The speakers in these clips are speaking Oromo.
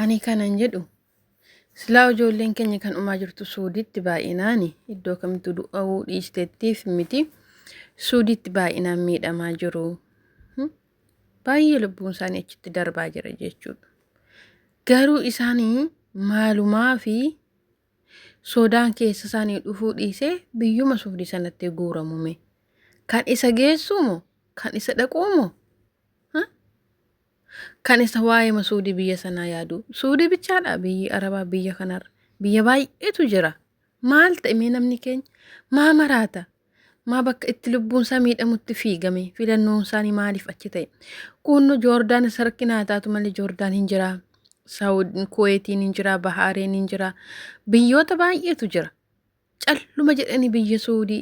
Ani kanan jedhu silaa ijoolleen keenya kan dhumaa jirtu suuditti baay'inaani iddoo kamtu du'a'uu dhiisteettiif miti suuditti baay'inaan miidhamaa jiru Hmm? baay'ee lubbuun isaanii achitti darbaa jira jechuudha garuu isaanii maalumaa fi soodaan keessa isaanii dhufuu dhiisee biyyuma suudii sanatti guuramume kan isa geessuumo kan isa dhaquumo kan isa waa'eema suudii biyya sanaa yaadu suudii bichaadha biyyi arabaa biyya kanarra biyya baay'eetu jira maal ta'e mee namni keenya maa maraata maa bakka itti lubbuun isaa miidhamutti fiigame filannoon isaanii maaliif achi ta'e kunno joordaan isa rakkinaa taatu malee joordaan hin jira saawud kuweetiin hin jira bahaareen hin jira biyyoota baay'eetu jira calluma jedhanii biyya suudii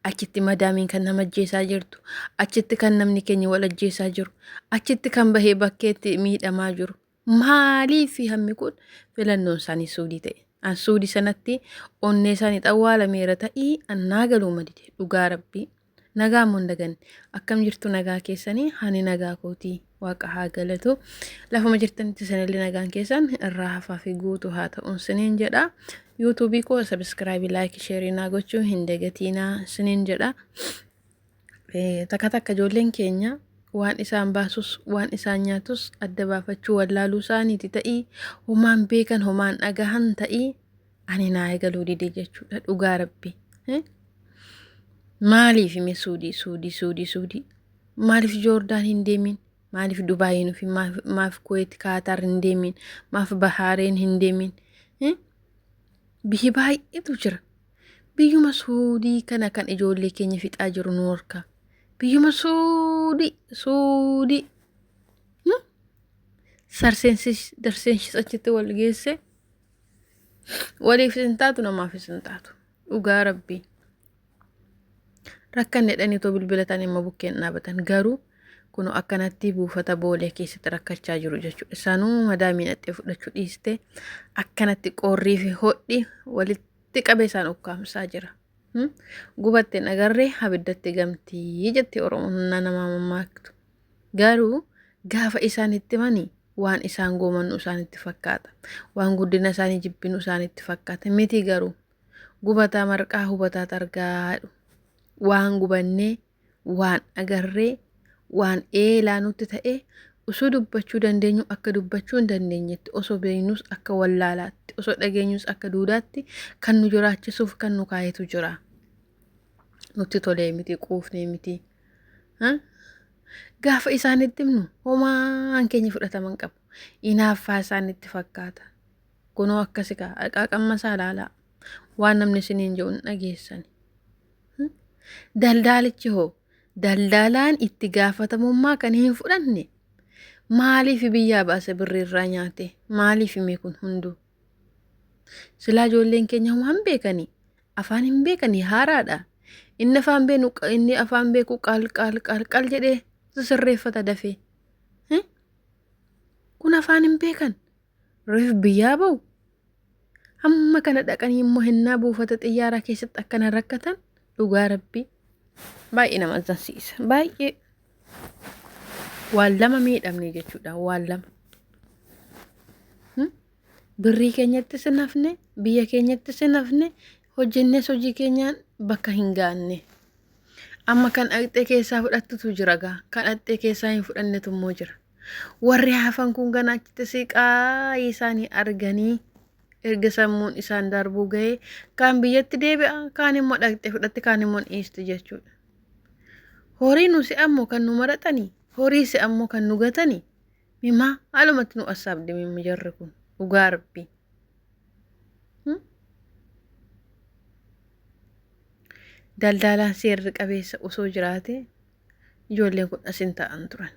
achitti madaamiin kan nama ajjeesaa jirtu achitti kan namni keenya wal ajjeesaa jiru achitti kan bahee bakkeetti miidhamaa jiru maaliif hammi kun filannoon isaanii suudii ta'e an suudii sanatti onnee isaanii xawwaalameera ta'ii annaa galuu madide dhugaa rabbii Nagaa ammoo hin daganne. Akkam jirtu nagaa keessanii hani nagaa kooti waaqa haa galatu. Lafuma jirtanitti isinillee nagaan keessan irraa hafaa fi guutuu haa ta'uun isiniin jedha. Yuutuubii koo sabiskiraabii laayikii sheerii naa gochuu hin dagatiinaa isiniin jedha. Eh, Takka takka ijoolleen keenya waan isaan baasus waan isaan nyaatus adda baafachuu wallaaluu isaaniiti ta'ii homaan beekan homaan dhagahan ta'ii ani naa egaluu dide jechuudha dhugaa rabbi maaliif ime suudii suudii suudii suudii maaliif joordaan hin deemin maaliif dubaayiin ofi maaf kuweet kaataar hin deemin maaf bahaareen hin deemin biyyi baay'eetu jira biyyuma suudii kana kan ijoollee keenya fixaa jiru nu horka biyyuma suudii suudii sarseensis darseenshisachitti wal geesse waliif isin taatu namaaf isin taatu dhugaa rabbii rakkan jedhanii too bilbilatan immoo bukkeen dhaabatan garuu kun akkanatti buufata boolee keessatti rakkachaa jiru jechuudha sanuu madaamii dhaxxee fudhachuu dhiiste akkanatti qoorrii fi hodhi walitti qabee isaan ukkaamsaa jira. Gubatte nagarree abiddatti gamtii jetti oromoon humna namaa mammaaktu. Garuu gaafa isaan itti himani waan isaan goomannu isaanitti fakkaata. Waan guddina isaanii jibbinu isaanitti fakkaata. Miti garuu gubataa marqaa hubataa xargaa jedhu. Waan gubannee, waan agarree, waan eelaa nutti ta'e osoo dubbachuu dandeenyu akka dubbachuu hin dandeenyetti, osoo beeknus akka wallaalaatti, osoo dhageenyus akka duudaatti kan nu jiraachisuuf kan nu kaayetu jira. Nutti tolee miti, quufnee miti. Gaafa isaanitti himnu homaan keenya fudhataman qabu. Inaaffaa isaanitti fakkaata. Kunoo akkasi kaa qaaqamma isaa ilaalaa. Waan namni isiniin jedhu hin dhageessani. Daldaalichi hoo daldalaan itti gaafatamummaa kan hin fudhanne maaliif biyyaa baase birrii irraa nyaate maaliif hime kun hunduu Silaa ijoolleen keenya homaa hin beekanii. Afaan hin beekanii haaraadha. Inni afaan beenu inni afaan beeku qaal qaal qaal qaal jedhee sirreeffata dafee. Hmm? Kun afaan hin beekan. Reef biyyaa ba'u. Hamma kana dhaqanii immoo hennaa buufata xiyyaaraa keessatti akkana rakkatan dhugaa rabbii baay'ee nama azzansiisa. Baay'ee Waan lama miidhamne jechuudha. Waan lama. Birrii keenyattis hin hafne, biyya keenyattis hin hafne, hojjennes hojii keenyaan bakka hin gaanne. Amma kan dhaqxee keessaa fudhattutu jira gaa. Kan dhaqxee keessaa hin fudhannetu immoo jira. Warri hafan kun ganaa achitti siqaa isaanii arganii Erga sammuun isaan darbuu gahee kaan biyyatti deebi'a, kaan immoo dhaqxee fudhatti, kaan immoo dhiisti jechuudha. Horii nu se'ammoo kan nu maraxani, horii se'ammoo kan nu gatani, mimaa haalumatti nu assaabde mimmi jarri kun dhugaa rabbii. Daldaalaan seerri qabeessa osoo jiraate ijoolleen kun as hin ta'an turan.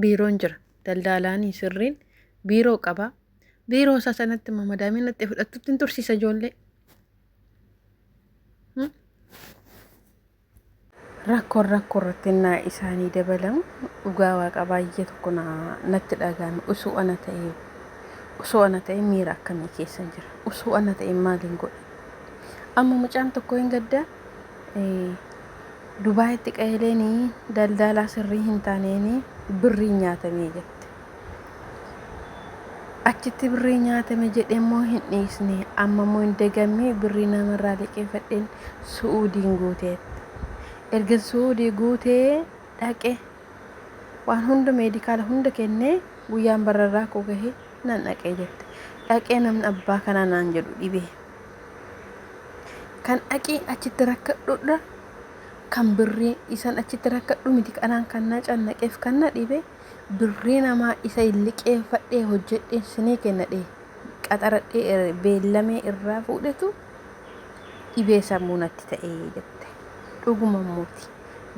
Biiroon jira. Daldaalaan sirriin biiroo qaba. Biiroo isaa sanatti ma madaamii natti fudhattutti hin tursiisa ijoollee. Hmm? Rakkoon rakkoo irratti naa isaanii dabalamu dhugaa waaqa baay'ee tokko na- natti dhaga'ame usuu ana ta'ee usuu ana ta'ee miira akkamii keessa jira usuu ana ta'ee maaliin godha amma mucaan tokko hin gaddaa eh, Dubaayitti qaeeleen daldaalaa sirrii hin taaneen birrii nyaatamee jette. Achitti birrii nyaatame jedhe immoo hin dhiisne. Amma immoo hin dagamme birrii namarraa liqeeffadheen Su'uudiin guuteetti. Ergan Su'uudii guutee dhaqe waan hunda meedikaala hunda kennee guyyaan bararraa koo gahee nan dhaqee jette. Dhaqee namni abbaa kanaa naan jedhu dhibee. Kan dhaqii achitti rakkadhudha kan birrii isan achitti rakkadhu miti kanaan kan na cannaqeef kan na dhibe. Birrii namaa isa in liqeeffadhee hojjedheen sinii kenna dhee qaxaradhee ere beellamee irraa fuudhetu dhibee sammuu natti ta'e jette. Dhuguma immooti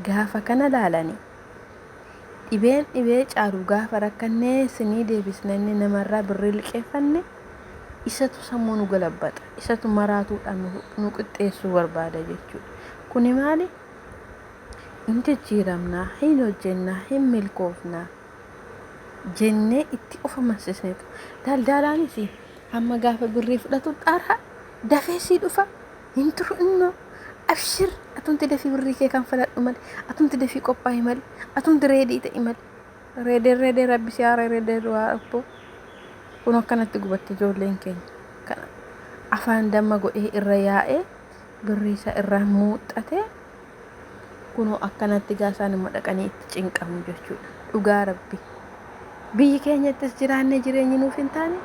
gaafa kana laalani dhibeen dhibee caalu gaafa rakkannee sinii deebisna inni namarraa birrii liqeeffanne isatu sammuu nu galabbaxa isatu maraatuudhaan nu qixxeessuu barbaada jechuudha. Kuni maali? hin jijjiiramna, hin hojjenna, hin milkoofna jennee itti of amansiisnetu. Daldaalaanis amma gaafa birrii fudhatu xaara dafee sii dhufa hin turu innoo abshir atumti dafii birrii kee kan faladhu mali atumti dafii qophaa'i mali atumti reedii ta'i mali reedee reedee rabbi si haara reedee du'aa abboo kun akkanatti gubatti ijoolleen keenya kan afaan damma godhee irra yaa'ee birrii isaa irraa muuxxatee Kunoo akkanatti gaa isaanuma dhaqanii itti cinqamu jechuudha. Dhugaa rabbi. Biyyi keenyattis jiraannee jireenyi nuuf hin taane,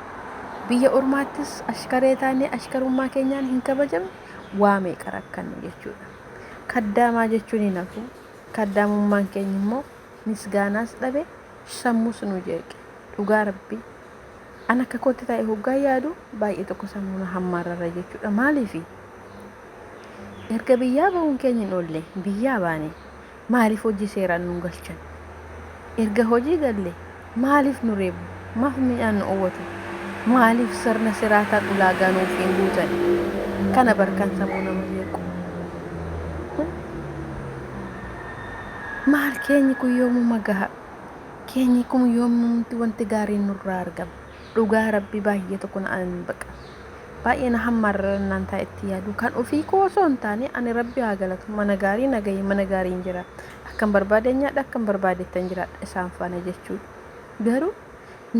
biyya ormaattis ashkaree taanee ashkarummaa keenyaan hin kabajamne waa meeqa rakkanne jechuudha. Kaddaamaa jechuun hin hafu. Kaddaamummaan keenya immoo misgaanaas dhabe, sammuus nu jeeqe. Dhugaa rabbi. An akka kootti taa'ee hoggaa yaadu baay'ee tokko sammuu na hammaararra jechuudha. Maaliifi? Erga biyyaa bahuun keenya hin oolle biyyaa baane maaliif hojii seeraan nun galchan? Erga hojii galle maaliif nu reebu? Maaf miidhaan nu owwatu? Maaliif sirna siraataan ulaagaa nuuf hin guutan? Kana bar kan sammuu nama jeequ. Kun maal keenyi kun yoomuma gaha? Keenyi kun yoomumti wanti gaariin nurraa argama? Dhugaa rabbi baay'ee tokko na ani baqa baay'ee na hammaarra naan taa itti yaadu kan ofii koo osoo hin taane ani rabbi haa galatu mana gaarii na gahee mana gaariin jira akkan barbaadeen nyaadha akkan barbaadettan jiraadha isaan faana jechuu garuu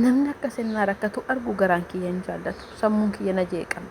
namni akka sennaa rakkatu argu garaan kiyya hin jaallatu sammuun kiyya na jeeqama.